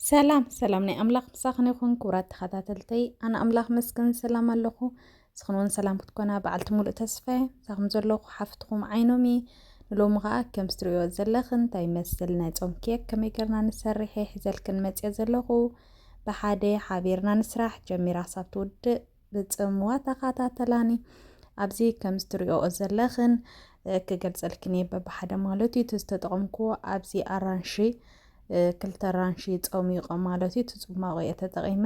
ሰላም ሰላም ናይ ኣምላኽ ምሳኽን ይኹን ክቡራት ተኸታተልተይ ኣነ ኣምላኽ መስገን ሰላም ኣለኹ ንስኽን እውን ሰላም ክትኮና በዓልቲ ሙሉእ ተስፋ ሳኹም ዘለኹ ሓፍትኹም ዓይኖም እየ ንሎሚ ከዓ ከም ስትሪኦ ዘለኽን እንታይ ይመስል ናይ ፆም ኬክ ከመይ ገርና ንሰርሐ ሒዘልክን መፅኦ ዘለኹ ብሓደ ሓቢርና ንስራሕ ጀሚራ ሳብ ትውድእ ብጽምዋ ተኻታተላኒ ኣብዚ ከምዚ ትሪኦ ዘለኽን ክገልጸልክን እየ በብሓደ ማለት እዩ እቲ ዝተጠቐምኩዎ ኣብዚ ኣራንሺ ክልተ ኣራንሺ ጸሚቖ ማለት እዩ እቲ ጽሟቑ እየ ተጠቒመ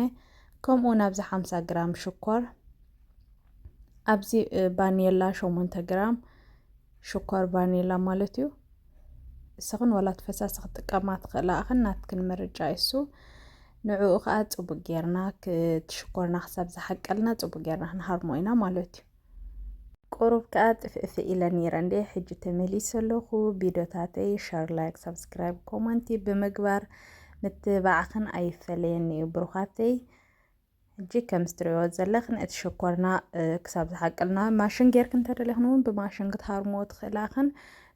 ከምኡውን ኣብዚ ሓምሳ ግራም ሽኮር ኣብዚ ባኔላ ሸሞንተ ግራም ሽኮር ባኔላ ማለት እዩ እስኽን ዋላ ፈሳሲ ክጥቀማ ትኽእላ እኽን ናትክን ምርጫ እሱ ንዕኡ ከኣ ጽቡቅ ጌርና ክትሽኮርና ክሳብ ዝሓቀልና ጽቡቅ ጌርና ክንሃርሞ ኢና ማለት እዩ። ቁሩብ ከኣ ጥፍእፍእ ኢለ ነይረ እንዴ ሕጂ ተመሊሰ ኣለኹ። ቪድዮታተይ ሸር፣ ላይክ፣ ሳብስክራይብ፣ ኮመንቲ ብምግባር ምትብባዕኽን ኣይፈለየኒ እዩ ብሩኻተይ። ሕጂ ከም ዝትርእዮ ዘለኽን እቲ ሽኮርና ክሳብ ዝሓቀልና ማሽን ጌርክን እንተደለኽን እውን ብማሽን ክትሃርሞ ትኽእላኽን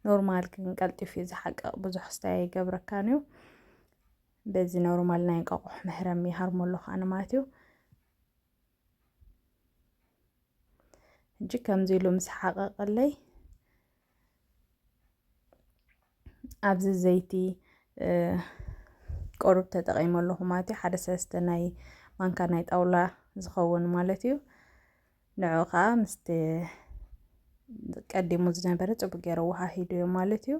ኖርማል ግን ቀልጢፉ እዩ ዝሓቅቕ ብዙሕ ስታይ ኣይገብረካን እዩ። በዚ ኖርማል ናይ እንቃቆሖ መህረም ይሃርሞ ኣለኹ ኣነ ማለት እዩ ሕጂ ከምዚ ኢሉ ምስ ሓቐቐለይ ኣብዚ ዘይቲ ቆርብ ተጠቒመ ኣለኹ ማለት እዩ ሓደ ሰለስተ ናይ ማንካ ናይ ጣውላ ዝኸውን ማለት እዩ ንዑ ከዓ ምስቲ ቀዲሙ ዝነበረ ፅቡቅ ገይረ ወሃሂዱ እዩ ማለት እዩ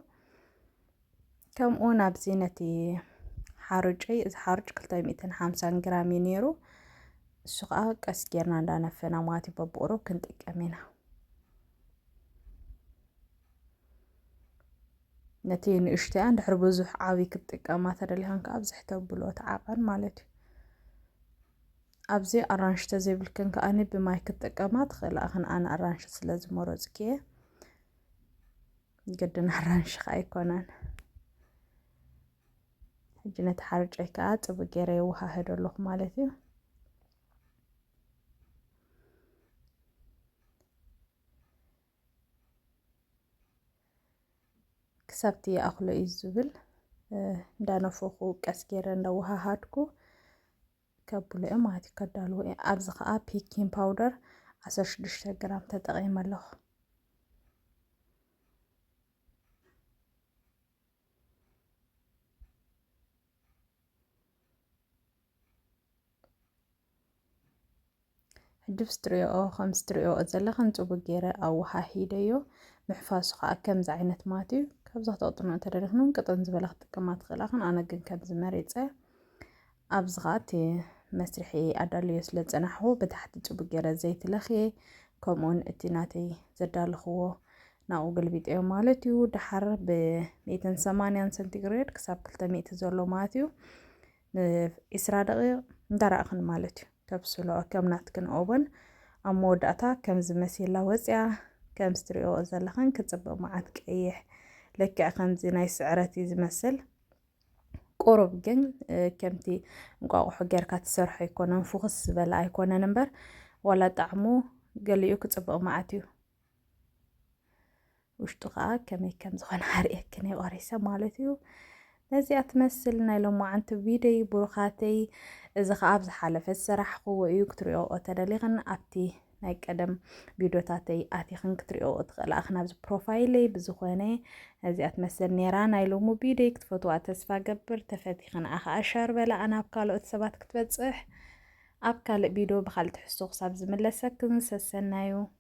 ከምኡ ናብዚ ነቲ ሓሩጨይ እዚ ሓሩጭ 250 ግራም እዩ ነይሩ እሱ ከዓ ቀስ ጌርና እንዳነፈና ማለት እዩ በብቁሩ ክንጥቀም ኢና ነቲ ንእሽተያ እንድሕር ብዙሕ ዓብይ ክትጥቀማ ተደሊኻን ከዓ ብዝሕ ተብሎ ተዓቐን ማለት እዩ ኣብዚ ኣራንሺ ተዘይብልክን ከኣኒ ብማይ ክትጥቀማ ትኽእላ እኽን ኣነ ኣራንሺ ስለ ዝመረፅኪ እየ ግድን ኣራንሺ ከዓ ኣይኮነን ሕጂ ነቲ ሓርጨይ ከዓ ፅቡቅ ገይረ የወሃህዶ ኣለኹ ማለት እዩ ክሳብቲ ይኣኽሎ እዩ ዝብል እንዳነፈኹ ቀስ ገይረ እንዳወሃሃድኩ ከብሎ እዮም ማለት እዩ ከዳልዎ እየ ኣብዚ ከዓ ፒኪን ፓውደር 16 ግራም ተጠቒመ ኣለኹ ህድፍስ ትሪኦ ከምዚ ትሪኦ ዘለኽን ጽቡቅ ገይረ ኣወሃሂደዮ ምሕፋሱ ከዓ ከምዚ ዓይነት ማት እዩ ካብዛ ተቅጥኖ እንተደሪኽኖም ቅጥን ዝበለ ክትጥቀማ ትኽእላኽን ኣነ ግን ከምዚ መሪፀ ኣብዚ ከዓ እቲ መስርሒ ኣዳልዮ ስለ ዝፀናሕኹ ብታሕቲ ጽቡቅ ገይረ ዘይቲ ለኽየ ከምኡውን እቲ ናተይ ዘዳለኽዎ ናብኡ ገልቢጠዮ ማለት እዩ ድሓር ብ180 ሰንቲግሬድ ክሳብ 200 ዘሎ ማለት እዩ ንዒስራ ደቂቕ እንዳረኣኽን ማለት እዩ ተብስሎ ከም ናትክን ኦቨን ኣብ መወዳእታ ከምዚ መሲላ ወፂኣ ከም ስትሪኦ ዘለኽን ክፅብቕ መዓት ቀይሕ ልክዕ ከምዚ ናይ ስዕረት እዩ ዝመስል ቁሩብ ግን ከምቲ እንቋቑሖ ጌርካ ትሰርሖ ኣይኮነን ፍኹስ ዝበለ ኣይኮነን እምበር ዋላ ጣዕሙ ገሊኡ ክፅብቕ መዓት እዩ ውሽጡ ከዓ ከመይ ከም ዝኾነ ኣርእየክን ቆሪሰ ማለት እዩ ነዚኣ ትመስል ናይ ሎማዓንቲ ቪድዮይ ብሩኻተይ እዚ ከዓ ኣብ ዝሓለፈ ዝሰራሕኽዎ እዩ ክትሪኦ ተደሊኽን ኣብቲ ናይ ቀደም ቪድዮታተይ ኣቲኽን ክትሪኦ ትኽእላ እኽን ኣብዚ ፕሮፋይለይ ብዝኾነ እዚኣ ትመስል ነራ ናይ ሎሚ ቪድዮይ ክትፈትዋ ተስፋ ገብር ተፈቲኽን ኣኸዓ ሻር በላኣ ናብ ካልኦት ሰባት ክትበፅሕ ኣብ ካልእ ቪድዮ ብካልእ ትሕዝቶ ክሳብ ዝምለሰክን ሰሰናዩ